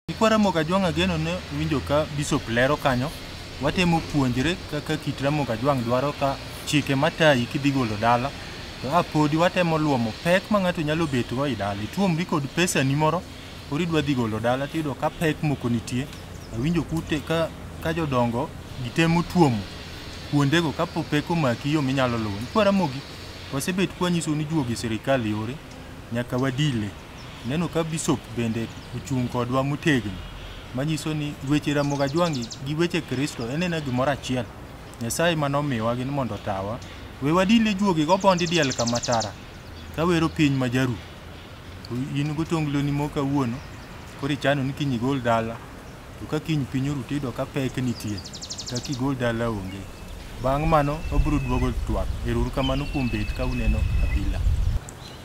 Kikwa Ramogi Ajwang' ageno ne winjo ka Bishop lero kanyo, watemo puonjre kaka kit Ramogi Ajwang' dwaro ka chike matayi kidhi golo dala. To a podi watemo luomo pek ma ng'ato nyalo betgo e dala. Ituomri kod pesani moro Koro idwa dhi golo dala tiyudo ka pek moko nitie. Awinjo kute ka ka jodongo gitemo tuomo kuondego kapo pek omaki yo minyalo luwo. Kwa Ramogi wasebet kwanyisou ni juogi sirikal yore nyaka wadile. Ineno ka bishop bende ochung' kodwa motegno manyiso ni weche Ramogi Ajwang'i gi weche Kristo en ena gimoro achiel. Nyasaye ema nomiwa gin mondo otawa. We wadile juogigo bondi diel kama tara kawero piny ma jaru. In gotongloni mo kawuono, koro ichano ni kiny igol dala. To ka kiny piny oru tiyudo ka pek nitie, kata kigol dala onge. Bang' mano wabiro duogo twak. Ero uru kamano kuom bet ka uneno Abila.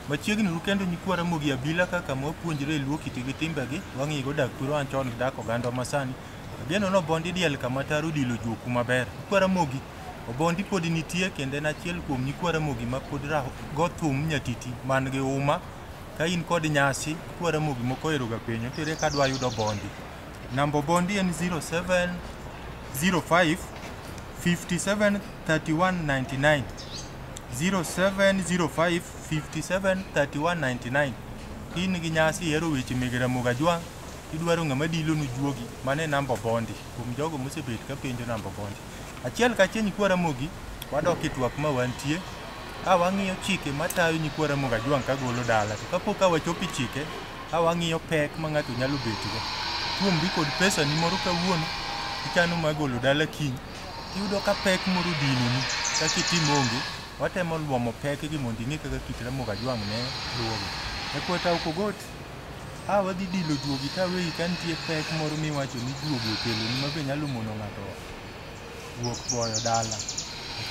Machiegni uru kendo nyikwa Ramogi Abila ka kama wapuonjre Luo kite gi timbegi, wang'igo dak thurwa wan chon gi dak ogandwa masani. Ageno nobondi diel kama taro dilo juoku maber. Nyikwa Ramogi Obondi podi nitie kendo en achiel kuom nyikwa Ramogi ma pod go thum nyatiti man gi uma. Ka in kod nyasi, kwa Ramogi moko oheroga penyo to ere ka adwa yudo Obondi. Namba Obondi en 0705 57 31 99 0705 57 31 99 in gi nyasi ihero weche meg Ramogi Ajwang' idwaro ng'ama dilonu juogi mano e namba Obondi kuom jogo mosebet ka penjo namba Obondi. Achiel kachiel nyikwa Ramogi wadok e twak ma wantie a wang'iyo chike matayo nyikwa Ramogi Ajwang' kagolo dala to kapok ka wachopo e chike a wang'iyo pek ma ng'ato nyalo betgo. Tuomri kod pesani moro kawuono ichano mar golo dala kiny iyudo ka pek moro odinoni kaka itim onge watemo luomo pekgi mondo ing'e kaka kit Ramogi Ajwang' ne luwogi. Nyakwa Tauko Got a wadhi dilo juogi ka weyi ka nitie pek moro miwacho ni juogi okeloni ma be nyalo mono ng'ato wuok goyo dala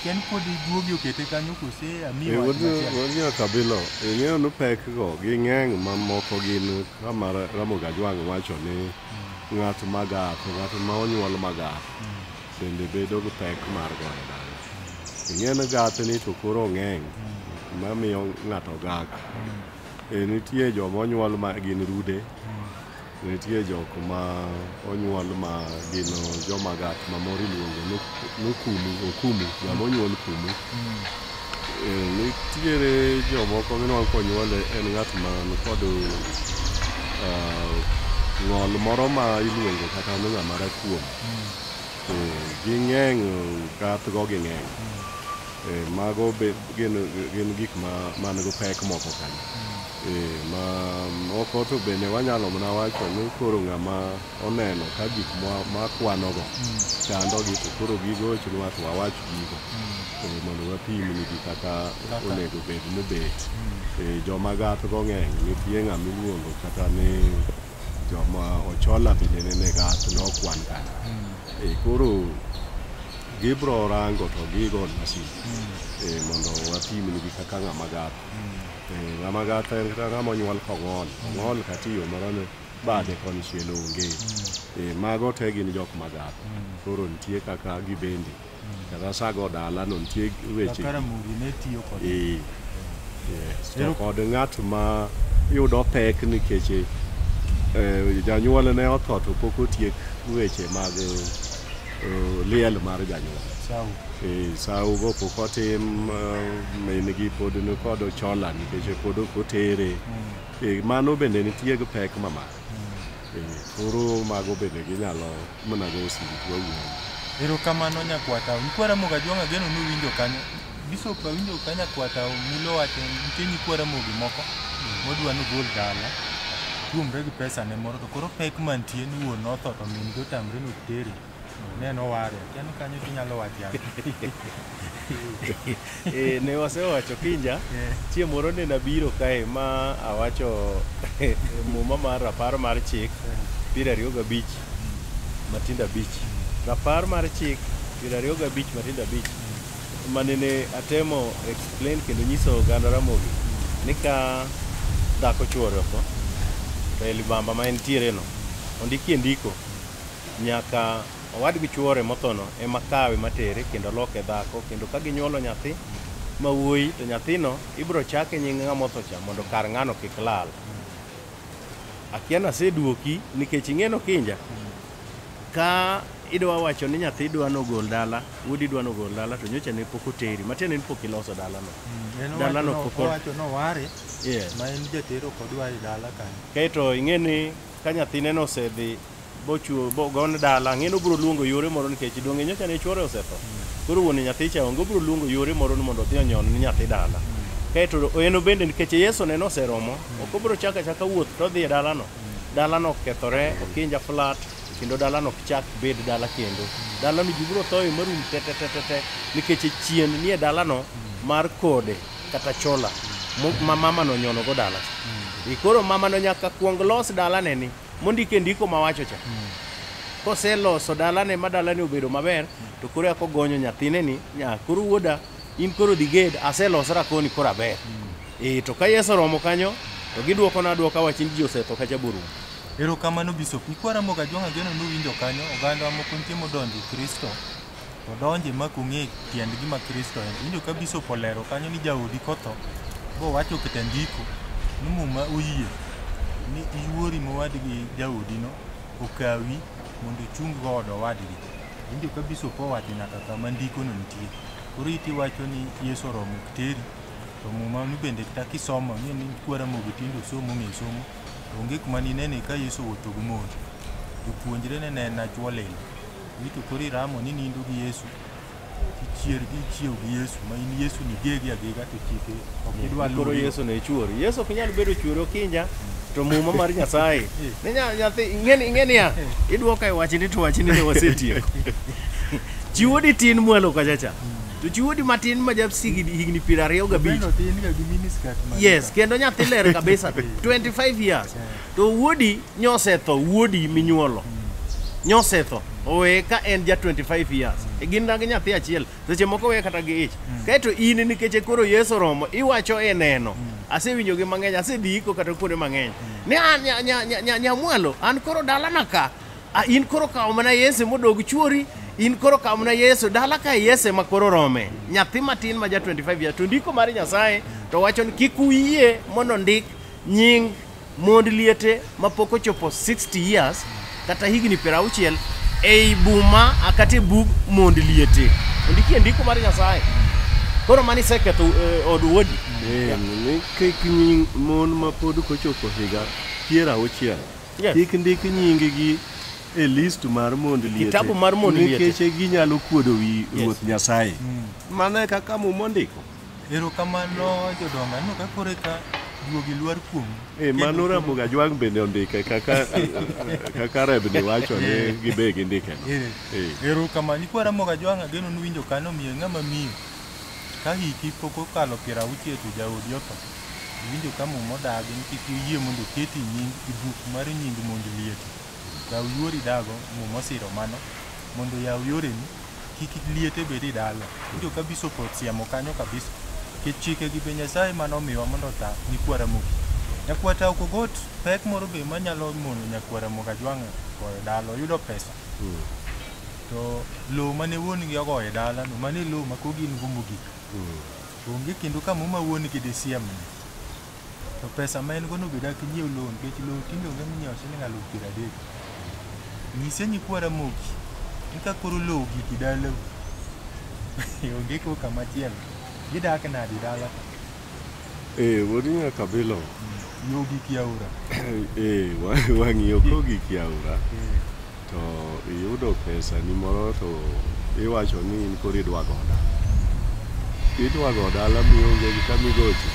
ken podi juogi okete kanyo kose amiyi Eh, wach wod- machielo. wod nyaka bilo ing'eyo ni pek go ging'eny mamoko gin kama Ra- ramogi ajwang' wacho ni ng'at magak ng'at ma onyuol magak bende bedo gi pek mar goyo dala ing'eyo ni gathni to koro ng'eny mamiyo ng'ato gak E, nitie joma onyuol ma gin rude nitie jok ma onyuol ma gin joma gat ma moro iluongo no- nokumu okumu ng'ama onyuol kumu E, nitiere jomoko minwang' konyuole en ng'at man kod ah, ng'ol moro ma iluongo kata ni ng'ama rakuom to ging'eng' gathgo ging'eng' Eh, mago be gin, gin gik ma man gi pek moko kanyo eh, ma moko to bende wanyalo mana wacho ni koro ng'ama oneno ka gik mwa- makwanogo chandogi to koro gigo ochunwa to wawach gigo eh, mondo wapimnigi kaka onego bed ni bet Eh, joma gathgo ng'eny nitie ng'ama iluongo kata ni Joma ochola bende ne nega nokwan kanyo. Eh, Koro gibro rango to gigo masin eh, mondo wapimnigi kaka ng'ama gath. Eh, Ng'ama gath en kata ng'ama onyuol kong'ol. Ong'ol kata iyo moro ne bade konchiel onge. Eh, Mago te gin jok magath. Koro nitie kaka gibende Kata sago dala no nitie weche. Kaka Ramogi ne tiyo kod. Eh. Yes. To kod ng'at ma yudo pek nikech eh, janyuol ne otho to pok otiek weche mag eh, liel mar janyuol. Sawa. Eh, sawo go pok otim eh, min gi pod nikod ochola nikech pod ok otere. Mm. Eh, mano bende nitie gi pek mamako. Koro mago bende ginyalo mana go simu to wawuoyo. Erokamano nyakwata. Nkwara Mogajwang' ageno nuwinjo kanyo. Bishop awinjo ka nyakwata mulo wacho nitie nyikwara mogi moko modwa nogol dala tuomre gi pesane moro to koro pek mantie ni wuon notho to min gi otamre nok tere. Ne no ware. Kiani kanyo tinyalo wache. e, ne wasewacho kinja yeah. chieng' moro ne nabiro kae ma awacho e, muma mar rapar mar chik yeah. piero ariyo gabich mm. matindo abich mm. rapar mar chik piero ariyo gabich matindo abich mm. mane ne atemo explain kendo nyiso oganda ramogi mm. ni ka dhako chuore oko to e libamba ma entiere no ondikie ndiko nyaka owadgi chuore mothono ema kawe matere kendo loke dhako kendo ka ginyuolo nyathi ma wuoyi to nyathino ibiro chake nying ng'ama otho cha mondo kar ng'ano kik lal. Akia naseduoki nikech ing'eno kinja ka idwa wacho ni nyathi dwa nogol dala wuodi dwa nogol dala to nyocha ne pok oteri matiende ni pok iloso dalano En Dala owacho no no- poko- owacho noware Yeah. ma en jatero kodwa e dala kanyo. kaeto ing'e ni Ka nyathine no osedhi bochuo bogone dala ang'e ni obiro luongo yore moro nikech donge nyocha ne chuore osetho koro wuon nyathi cha onge obiro luongo yore moro ni mondo odhi onyon ni nyathi dala kaeto en bende nikech yesu ne noseromo ok obiro chaka chaka wuoth to odhi e dalano dalano okethore okinja flat kendo dalano ok chak bed dala kendo dalano ji biro thoye marum tetetetete nikech chien nie dalano mar kode kata chola mo- ma mama no nyono go dala I koro mama no nyaka kuong los dalane ni mondik e ndiko mawacho cha koseloso dalane ma dalane obedo maber to koro eka ogonyo nyathine ni nya koro wuoda in koro dhi ged aselosra koni koro aber e to ka yeso romo kanyo to gidwokona adwoka wach ni ji osetho kacha borum Erokamano Bishop. Ikwara moga jwang'a geno nuwinjo kanyo oganda moko nitie modonjo e Kristo. to donje ma kong'e tiend gima Kristo en. Winjo ka bishop olero kanyo ni jaodi kotho bowacho kete ndiko ni muma oyie ni iwuori mowadgi jaodino okawi mondo ichung go od owadgi. Winjo ka bishop owacho nyaka kama ndikono nitie. Koro iti wacho ni Yesu oromo ok teri to muma ni bende kata kisomo ni ni kwara mogo tindo somo ng'e somo onge kuma ninene ka Yesu owuotho gi mon jopuonjre ne ne nachwo lilo Ni to koro iramo ni nindo gi Yesu. Ichier gi ichiew gi Yesu ma in Yesu ni gegi agega to chike ok idwa luwo. Koro Yesu ne chuori. Yesu ok nyal bedo chuori okinja. To muma mar Nyasaye. Ne nya- nyathi ing'eni ing'eni ya. Idwoka e wachni to wachni ne wasetieko. Chiwodi tin mwalo kacha cha. To chiwodi matin ma japsi higni piero ariyo gabich. Beno tin ga gi miniskirt ma. Yes, kendo nyathi ler kabisa. 25 years. To wuodi nyosetho, wuodi minyuolo nyosetho oweye ka en ja 25 years e gin na gi nyathi achiel seche moko weye kata gi ich mm. kaeto in nikech e koro yesu oromo iwacho e neno mm. asewinjo gi mang'eny asediko kata kuonde mang'eny mm. ni an nyamwalo an koro dalana ka in koro kawo mana yesu modog chuori in koro kawo mana yesu dala ka yesu ma koro rome nyathi matin ma ja 25 years to ndiko mar nyasaye to wacho ni kik uyie mondo ndik nying mond liete ma pok ochopo 60 years kata higni piero auchiel ei buma a kata e bug mond liete ondikie ndiko mar nyasaye koro mani iseketho eh, od wuodi Eh, ni kik nying mon ma pod kochopo higa piero auchiel Yes. kik ndik nyinggi e list mar mond liete Kitabu mar mond liete. nikech ginyalo kuodo wi Yes. ruoth nyasaye mano e kaka muma ondiko Erokamano jodongo, aneno ka koro eka duogi lwar kuomu. Eh, mano Ramogi Ajwang' bende ondike kaka kaka Rebni wacho ni Eh. gibe gindike no. Eh, Eh. Erokamano, nyikwa Ramogi Ajwang' ageno nuwinjo kanyo miyo ng'ama miyo. Ka hiki pok okalo piero auchiel to jaodi otho. Iwinjo ka muma odagi ni kik iyie mondo oketi nying i buk mar nying mond liete. Yaw yuori dago, Muma osiro mano, mondo yaw yoreni, kik liete bed e dala. Winjo ka Bishop osiemo kanyo kabisa. Nikech chike gi be Nyasaye mane omiwa mondo ota nyikwa Ramogi. Nyakwa Tao Kogot pek moro be manyalo mono nyakwa Ramogi Ajwang' goyo dala, oyudo pesa. To lowo mane wuongi ogoyo e dala no, mano e lowo ma koro gin go mogik. Onge kendo ka Muma wuongi disiemni. to pesa ma en go no be dak nyiew loan nikech loan tinde onge minyiewo siling aluf piero adek nyise nyikwa ramogi ni ka koro lowo giki dalau onge ko kama chielo gidak nadi dala Eh, wodi nyaka bilo. yo giki aora Eh, wa- wang'iyo ko gik yaura. Eh. to iyudo pesani moro to iwacho ni in koro idwa go dala idwa go dala mionge gi kama igocho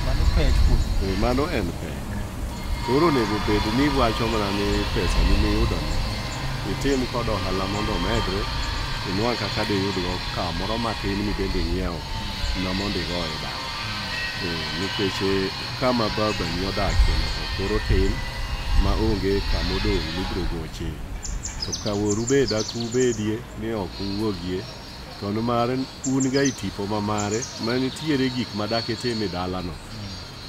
Mano pek kuom Eh, mano en pek koro onego bed ni iwacho mana ni pesani miyudono itim kod ohala mondo omedre inwang' kaka diyudgo kamoro matin mibende ing'iewo na mondo igoye dala Eh, nikech eh, Kama babani odakie nyaka koro tin ma onge kama odong' mibiro goche. To ka woru be dak ubedie ni ok uwuogie, to nimar un ga e tipo ma mare, ma nitiere gik ma dak itim e dalano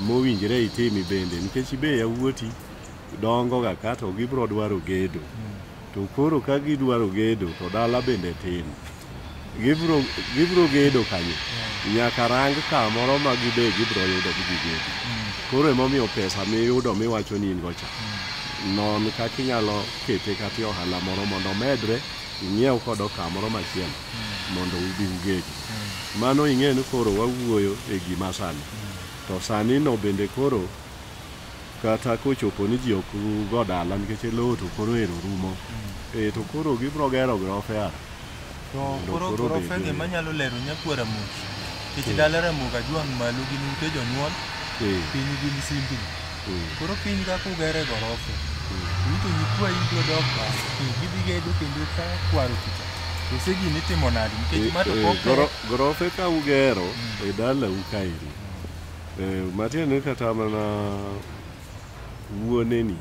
mowinjre itimi bende, nikech be yawuoti dongoga ka to gibiro dwaro gedo. To koro ka gidwaro gedo to dala bende tin. Gibro, gibro gedo kanyo. Nyaka rang kamoro ma gibe gibro yudo gi gigedi. Koro emomiyo pesa miyudo miwacho ni in go cha. Non kaka inyalo kete kata e ohala moro mondo omedre ing'iew kodo kamoro machielo mondo ubi ugedi. Mano ing'e ni koro wawuoyo e gima sani. To sani no bende koro kata kochopo ni ji ok go dala nikech lowo to koro ero rumo mm. e, to koro gibro gero grofe ara to koro grofe gi manyalo lero nyakuo ramogi nikech mm. dala ramogi ajwang' malo gin ute jonyuol e. piny gin simbi mm. koro piny kaka ugere gorofe rito nyikwa ibro dok ka gidhi gedo kendo ka kwaro kicha ose gini timo nadi nikech e, mato gorofe ka ugero e dalau kaeri Eh, matiende ni kata mana wuoneni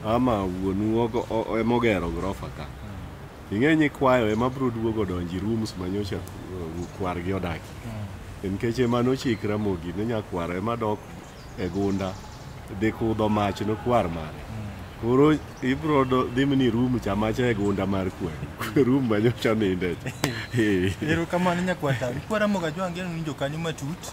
ama wuonu ogo- o- o- emogero grofa ka ing'e ni kwayo ema bro duogo donji rooms manyocha uh, kwargi odaki nikech ema nochikra mogi ne nyakwar ema dok e gunda dhi kudho mach nokwar mare koro ibro do- dhi mni room cha macha e gunda mar kwe room manyocha ninde cha Eh. Erokamano nyakwata. Ikwara moga jwange ni winjo kanyo matut.